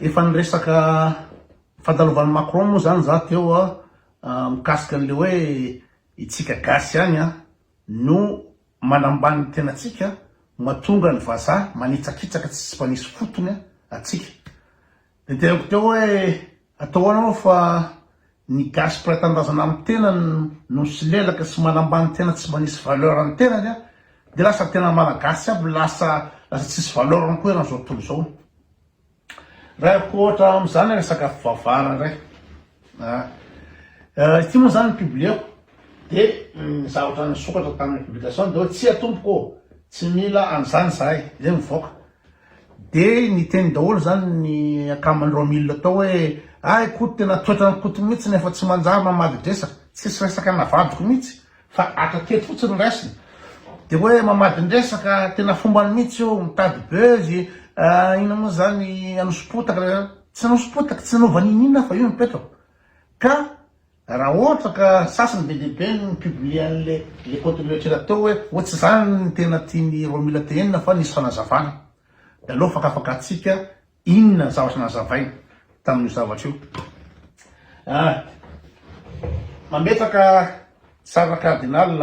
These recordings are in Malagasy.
Efa niresaka fandalovan'i Macron moa izany za teo mikasika an'ilay hoe itsika gasy ihany no manambany ny tenantsika mahatonga ny vazaha manitsakitsaka tsy mba misy fotony antsika. Dia teneniko teo hoe atao ahoana moa fa Ny gasy mpiray tanindrazana amin'ny tenany no misolelaka sy manambany tena tsy mba nisy valeur ny tenany an! Dia lasa ny tena malagasy aby lasa lasa tsisy valeur ny koa eran'izao tontolo izao. Raiko ohatra amin'izany ilay sakafo vavara indray an! Ity moa izany ny publieko dia ny zavatra nisokatra tamin'ny publication dia hoe tsia tompoko ô! Tsy mila an'izany izahay dia mivoaka Dia niteny daholo izany ny akaman'ireo milina tao hoe, Ay Koto, tena toetran'i Koto mihitsy ny efa tsy manjary mamadin-dresaka, tsisy resaka navadiko mihitsy fa hatrateto fotsiny ny raisiny. Dia hoe mamadin-dresaka, tena fombany mihitsy io, mitady buzz, inona moa izany, hanoso-potaka, tsy hanoso-potaka, tsy hanova n'inon'inona fa io no toetrako. Ka Raha ohatra ka sasany be dia be no mi-publier an'le le contenu kely atao hoe hoe tsy zany ny tena tian'i Romila tenenina fa nisy fanazavana. De aleo fakafakatsika inona ny zavatra nazavainy tamin'io zavatra io. Ah. Mametraka sarina cardinal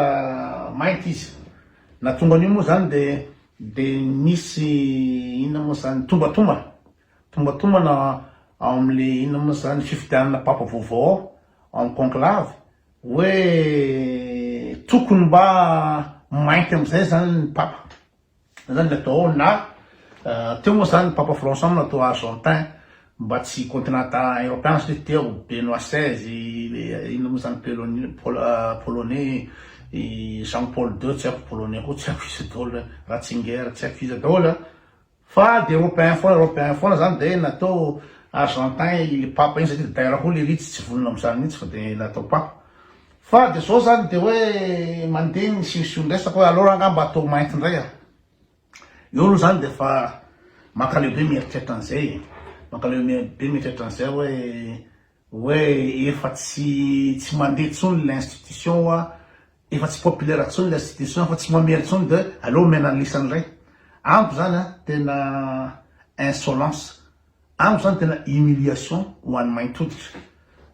mainty izy. Nahatonga an'io moa zany de de nisy inona moa zany, tombatomba. Tombantombana ao amin'le inona moa zany fifidianana Papa vaovao ao amin'ny conclave hoe tokony mba mainty amin'izay zany ny Papa, zay zany le atao ao na teo moa zany ny Papa François moa natao Argentin mba tsy continente Europeana satria teo Benoît seize le inona moa zany Pelo- Polonais Jean Paul deux tsy haiko Polonais koa tsy haiko iza daholo Ratzinger tsy haiko iza daholo a. Fa de europeen foana europeen foana zany de natao argentin ily papa iny satria dera koa le ritsy tsy vonona amzany mitsy fa de natao papa fa de zao zany de oe mande ny sisio ny resaka oe alors anga mba atao mainty ndray a eo aloha zany de fa mankaleo be mieritreritra anzay e mankaleo be mieritreritra anzay oe Oe efa tsy tsy mandeha tsony le institution oa efa tsy populaire tsony le institution efa tsy mamely tsony de aleo omena ny lisany ray amiko zany a tena insolence amiko zany tena humiliation ho any mainty hoditra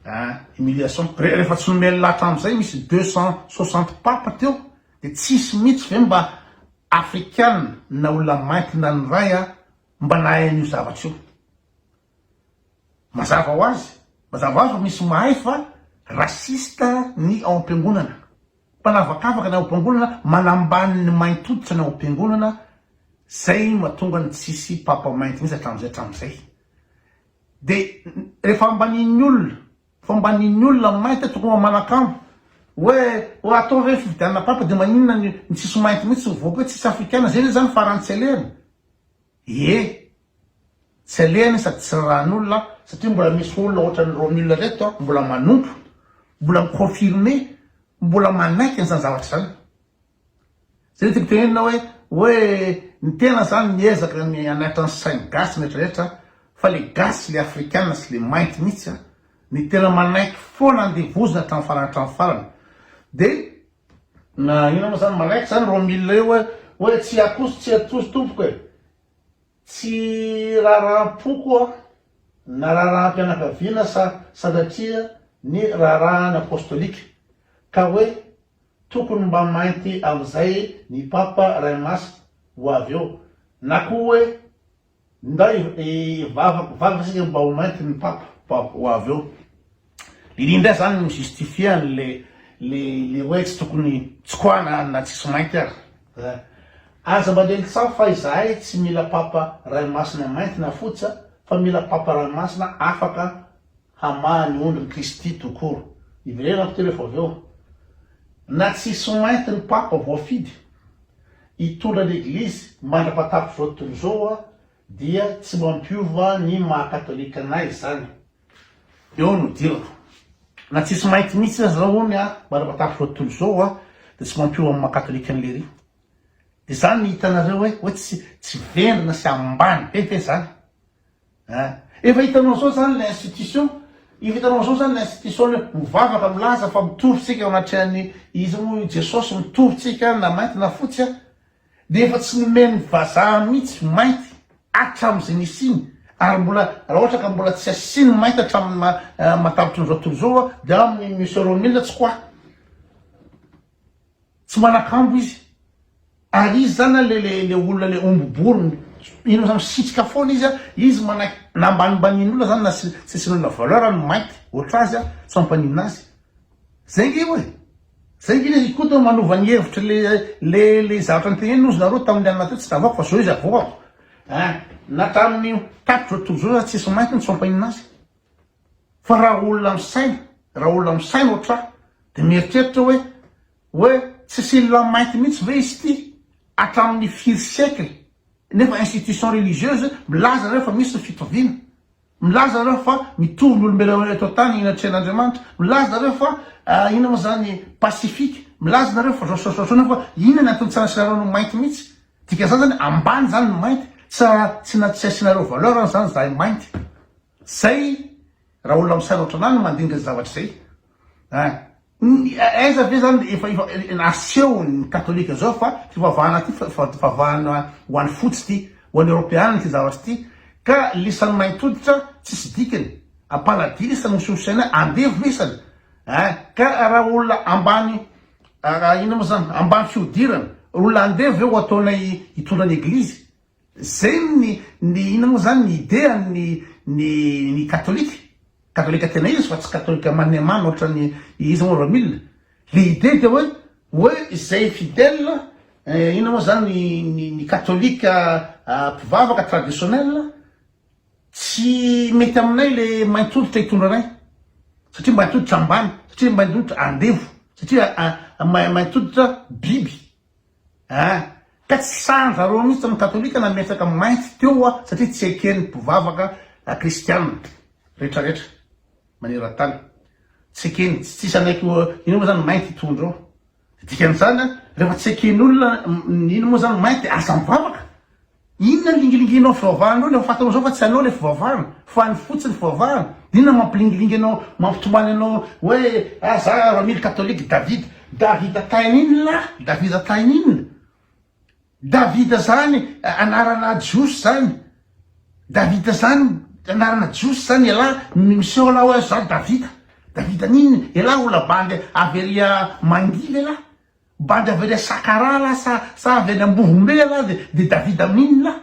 a humiliation re refa tsy nomeny laha atram zay misy deux cent soixante papa teo de tsisy mitsy ve mba african na olona mainty na ny ray a mba nahay anio zavatra io. Mazava ho azy, mazava ho azy fa misy mahay fa raciste ny ao am-piangonana. Mpanavakavaka ny ao am-piangonana, manambany ny mainty hoditra ny ao am-piangonana, zay no mahatonga ny tsy hisy Papa mainty mihitsy hatramin'izay hatramin'izay. De rehefa ambanian'ny olona, fa ambanian'ny olona ny mainty tokony mba manakambo, hoe hoe atao ve ny fifidianana Papa de maninona ny ny tsisy mainty mihitsy tsy mivoaka hoe tsisy afrikana, zay ve zany farany tsy alehany? Ie, tsy alehany sady tsy rarahan'olona satria mbola misy olona ohatran'i Romule reto mbola manompo, mbola mi-confirmer, mbola manaiky an'izany zavatra izany. Izay no tiako tenenina hoe, hoe ny tena izany miezaka ny hanatra ny sain'ny gasy rehetra rehetra fa le gasy le afrikana sy le mainty mihitsy no tena manaiky foana andevozina hatramin'ny farany hatramin'ny farany. Dia Na inona moa zany, manaiky zany roa milina io hoe hoe tsy akoso tsy atozo tompoko e! Tsy raharaham-poko aho na raharaham-pianakaviana sa sanatria ny raharahany apostolika ka hoe tokony mba mainty amin'izay ny Papa Ray Masina ho avy eo na koa hoe Ndray e vavako vavaka sika mba ho mainty ny papa mba ho avy eo Lily ndray zany mi justifier any le le le hoe tsy tokony tsy quoi na na tsisy mainty ary eh aza mba lely tsaho fa izahay tsy mila papa ray masina mainty na fotsy a fa mila papa ray masina afaka hamaha ny ondry ny kristy tout court iverenako ty refa avy eo na tsisy mainty ny papa voafidy Hitondra ny Eglizy mandra-pahatapitry izao tontolo izao aho dia tsy mampiova ny maha Katolika anay izany. Eo no idirako. Na tsisy mainty mihitsy aza aho hono aho mandra-pahatapitry izao tontolo izao aho dia tsy mampiova amin'ny maha Katolika an'i Lery. Dia izany no hitanareo hoe tsy vendrana sy ambany be ve izany? Hein? Efa hitanao zao zany le institution? Efa hitanao zao zany le institution le mivavaka milaza fa mitory tsika eo anatrehan'ny iza moa io Jesosy mitory tsika any na mainty na fotsy a! De efa tsy nomen'ny vazaha mihitsy mainty hatram'izay nisiany ary mbola raha ohatra ka mbola tsy asiany mainty hatramin'ny maha matavitry ny zao tontolo zao a de amin'ny Monsieur Romil tsy quoi? Tsy manakambo izy. Ary izy zany a, le le le olona le omby bory, ino zany, misitrika foana izy a, izy manaiky na ambanimbanin'olona zany na tsy tsy asian'olona valeur ny mainty ohatr'azy a, tsy mampaninona azy. Zay nge io e! Zay nge izy koa toa manova ny hevitry le le le zavatra noteneniny ozy nareo tamin'ny alina teo tsy tavako fa zao izy avoakako. Ein! Na tamin'ny tapitra zao tojo zao aza tsisy mainty no tsy mampaninona azy. Fa raha olona misaina, raha olona misaina ohatr'ahy dia mieritreritra hoe, hoe tsy silla mainty mihitsy ve izy ity hatramin'ny firy siècle? Nefa institution religieuse milaza nareo fa misy ny fitoviana, milaza nareo fa mitovy ny olombelona eto an-tany eny an-trehan'Andriamanitra, milaza nareo fa inona moa izany pacifique, milaza nareo fa zao sy zao, nefa inona ny antony tsy anasianareo ny mainty mihitsy? Dikan'izany izany ambany izany ny mainty, tsy tsy asianareo valeur izany izahay mainty. Zay raha olona misanoatra anah no mandinika zay zavatra zay an! Aiza ve zany efa asehon ny katolika zao fa fivavahana ty fivavahana ho any fotsy ty, ho any eropeana ty zavatra ty ka lisany maintoditra tsisy dikany, ampaladia lisany hosohosaina andevo lisany an! Ka raha olona ambany inona moa zany ambany fihodirana olona andevo ve ho ataonay hitondra ny eglizy? Zay ny ny inona moa zany ny idea ny ny ny katolika, katolika tena izy fa tsy katolika maniamano ohatran'ny iza moa ramil, le idea dia hoe hoe zay fidèle inona moa zany ny ny katolika mpivavaka traditionnel tsy mety aminay le mainty hoditra hitondra anay satria mainty hoditra ambany satria mainty hoditra andevo satria mainty hoditra biby. Hein! Ka tsy sanja reo mihitsy ny katolika nametraka mainty teo wa satria tsy eken ny mpivavaka kristiana rehetra rehetra maneran tany. Tsy ekeny, tsy tsisy hanaiky ho ino moa zany mainty itony reo. Dikan izany an, rehefa tsy eken olona ny ino moa zany mainty aza mivavaka. Inona ny lingilingianao fivavahana eo, ilay fantanao zao fa tsy anao ilay fivavahana, fa ny fo tsy ny fivavahana, inona ny mampilingilingy anao, mampitomany anao hoe ah za ramily catholique David, Davida tahin inona lah, Davida tahin inona, Davida zany anarana jiosy zany, Davida zany anarana jiosy zany elah miseho lah hoe za Davida, Davida n'inona, elah ho labandy avy ery mangily elah, Bande avy any Sakarala sa sa avy any Ambovombe ialahy de de David Amin lahy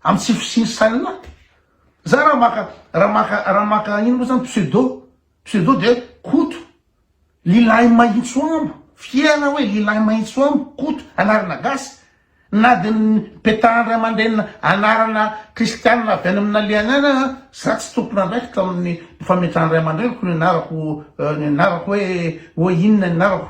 am tsy fisiany saina lahy. Za ra maka ra maka ra maka ino mo zany pseudo pseudo de Koto lilahy mahintso ambo fier aho hoe lilahy mahintso ambo Koto anarana gasy na de petahan ray aman-drenina anarana kristianina avy any amin nalehany any aza za tsy tompon andraikitra amin ny fametrahan ray aman-dreniko ny anarako ny anarako hoe hoe inona ny anarako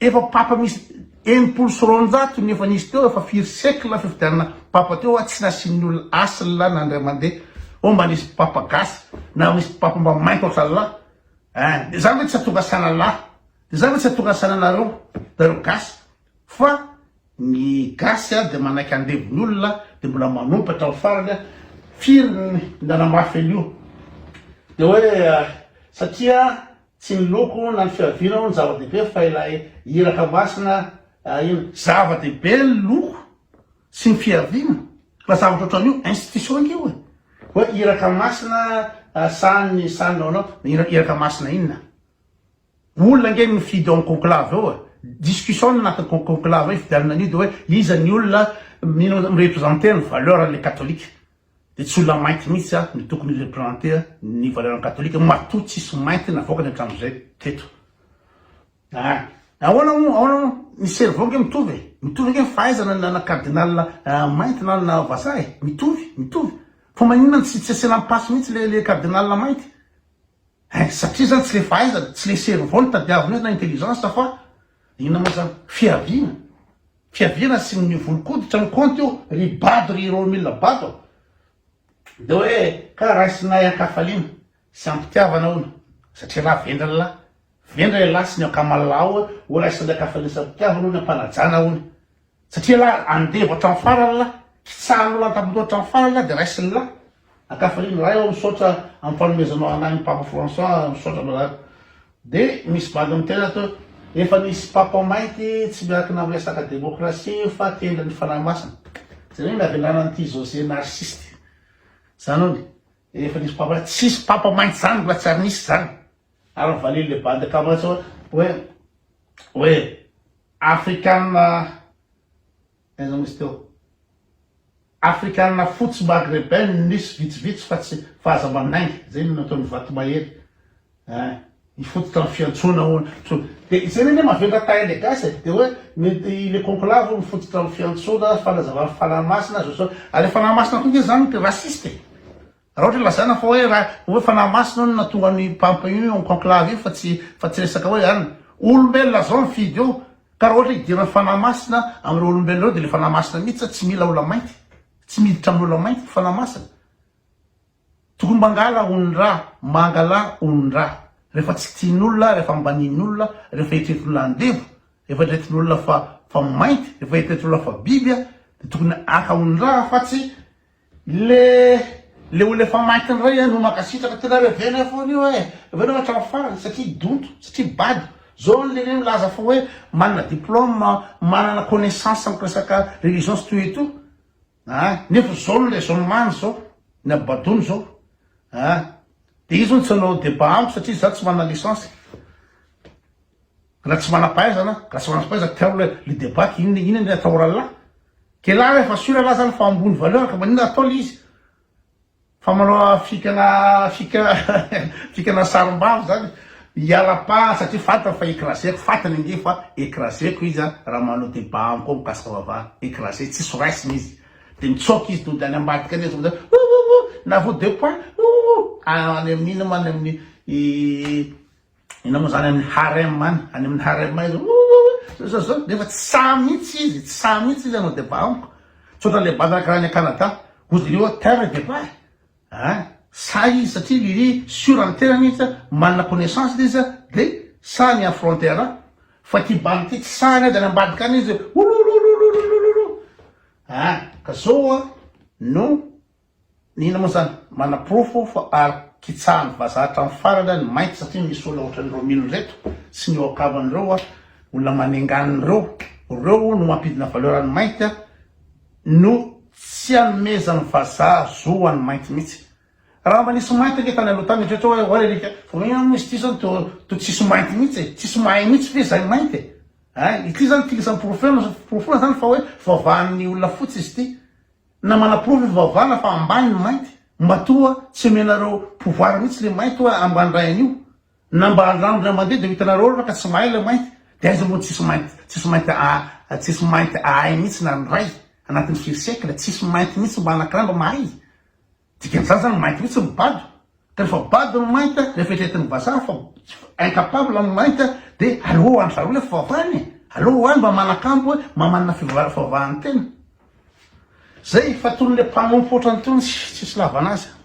Efa papa misy enimpolo sy roanjato ny efa nisy teo efa firy siècle fifidianana papa teo a tsy nasian'ny olona asla na indray mandeha oh mba nisy papa gasy na misy papa mba mainty ohatran'lah eh de zany ve tsy hatonga sanan'lah de zany ve tsy hatonga sananareo nareo gasy fa ny gasy a de manaiky andevon'ny olona de mbola manompa hatramin'ny farany a firy ny nanamafy an'io de hoe satria Tsy ny loko na ny fiaviana hono zava-dehibe fa ilay iraka masina iny. Zava-dehibe ny loko sy ny fiaviana fa zavatra ohatran'io institution ange io e! Hoe iraka masina sahanin'ny sahaninao anao, iraka masina inona? Olona ange no mifidy ao amin'ny conclave ao e! Discussion no anatin'ny conclave ao ifidianana an'io dia hoe iza ny olona mino representer ny valeur an'ilay katolika. Dia tsy olona mainty mihitsy aho no tokony hi-reprenter ny valeurs-n'ny Katolika, matoa tsisy mainty navoakany hatramin'izay teto. Ah! Ahoana moa, ahoana moa? Ny cerveau ange mitovy e! Mitovy ange ny fahaizana na na cardinal mainty na na vazaha e! Mitovy, mitovy. Fa maninona no tsy tsy asiana ampasy mihitsy le le cardinal mainty? Hein! Satria zany tsy le fahaizana, tsy le cerveau no tadiavina eo na intelligence fa Inona moa zany? Fiaviana? Fiaviana asin'ny volon-koditra ny kaonty io ry bado ry Romila bado a! Dia hoe ka raisinay an-kafaliana sy am-pitiavana hono satria rà vendra ny lahy, vendra ialahy sy ny ankamalaho hoe ho raisinay an-kafaliana sy am-pitiavana hono ny am-panajana hono. Satria lahy andevo hatramin'ny farany lahy, kitsahan'ny olona an-tampondoha hatramin'ny farany lahy dia raisin'ny lahy. Ankafaliana lahy ô misaotra amin'ny fanomezanao an'ahy ny Papa François misaotra brother. Dia misy bandy miteny ato hoe efa nisy Papa mainty tsy miankina amin'ny resaka démocratie fa tendry ny Fanahy Masina. Jereo ny havelana an'ity José narciste. Izany hono. Efa nisy Papa, tsisy Papa mainty izany mbola tsy ary nisy izany. Ary mivalily le bande kamatsy hoe hoe hoe afrikanina aiza moa izy teo afrikanina fotsy maghreben no nisy vitsivitsy fa tsy fa aza manainga zay no nataon'ny vatomahery eh hifototra amin'ny fiantsoana hono to dia izay anie mavendrana taille le gasy e dia hoe mety le conclave hono mifototra amin'ny fiantsoana fanazavana fanahy masina aza sao ary le fanahy masina koa nge zany racistes e Raha ohatra hoe lazaina fa hoe raha hoe fanahy masina io no nahatonga an'i Pampa io en conclave io fa tsy fa tsy resaka hoe an, olombelona zao mifidy eo ka raha ohatra hoe idiran'ny fanahy masina amin'ireo olombelona ireo dia ilay fanahy masina mihitsy an tsy mila olamainty, tsy miditra amin'ny olamainty ny fanahy masina. Tokony mangala onin-dra, mangala onin-dra rehefa tsy tian'olona, rehefa ambanian'olona, rehefa eritreretin'olona andevo, rehefa eritreretin'olona fa fa mainty, rehefa eritreretin'olona fa biby an dia tokony haka onin-dra fa tsy Le le olona efa maty ndray a no mankasitraka tena revenay foana io e revenao hatram farany satria donto satria bado zao ny lehibe milaza fa hoe manana diploma manana connaissance am resaka religion sy toy et tout a nefa zao ny raisonnement ny zao ny abadony zao a de izy hono tsy hanao debat amiko satria za tsy manana licence. Raha tsy manam-pahaizana, raha tsy manam-pahaizana teo le le débat inona inona ny atao oral là? Quel âge efa sûr anah zany fa ambony valeur ka maninona atao le izy? Fa manao fikana fika fikana sarim-bavy zany hiala pa satria fantany fa écraseko, fantany ange fa écraseko izy an raha manao débat amiko ao mikasika vava écrase tsisy ho raisina izy de mitsaoka izy tonga de any ambadika any izy tonga de oh oh oh na vao deux points oh oh oh any amin'inona ma any amin'ny Inona moa zany any amin'ny harem any? Any amin'ny harem aiza? Oououou! Zao zao nefa tsy sahy mihitsy izy, tsy sahy mihitsy izy hanao débat amiko. Tsotra le banda karaha any à Canada. Voudriez vous taire et débat? A! Sahy izy satria iry sûr amin'ny tenany izy a, manana connaissance le izy a, de sahy mi affronter ahy. Fa ity bandy ity tsy sahy na dia any ambadika any izy, ouloloulolouloloulou! A! Ka zao a, no Inona moa zany? Manaporofo fa ary kitsahan'ny vazaha hatramin'ny farany any mainty satria misy olona ohatran'i Romilo ireto sy ny eo an-kavany ireo olona manenganiny ireo, ireo no mampidina valeur an'ny mainty no tsy anomezan'ny vazaha zo ho an'ny mainty mihitsy. Raha mba nisy mainty ange tany aloha tany eritrereto hoe ahoana alika fa hoe hono izy ity zao toa toa tsisy mainty mihitsy e, tsisy mahay mihitsy ve izay mainty e? Ein, ity zany tilisan'ny porofo eo no porofoina zany fa hoe fivavahan'ny olona fotsy izy ity. Na manaporofo efa vavana fa ambany ny mainty, mba toa tsy omenareo pouvoir mihitsy le mainty oa ambany ray anio, na mba andramby na mandeha de ho hitanareo ary fa ka tsy mahay le mainty, de aiza moa tsisy mainty tsisy mainty aa tsisy mainty ahay mihitsy na ny ray anatin'ny firy siècle tsisy mainty mihitsy mba anakirandra mahay Dikany izany zany mainty mihitsy ny bado ka rehefa bado ny mainty a rehefa eritreretin'ny vazaha fa incapable ny mainty a de aleo ho andry zareo le fivavahany e aleo ho any mba manakambo hoe mba manana fivavahana fivavahany tena zay fa tony le mpanompo ohatrany tony tsisy lavana azy a.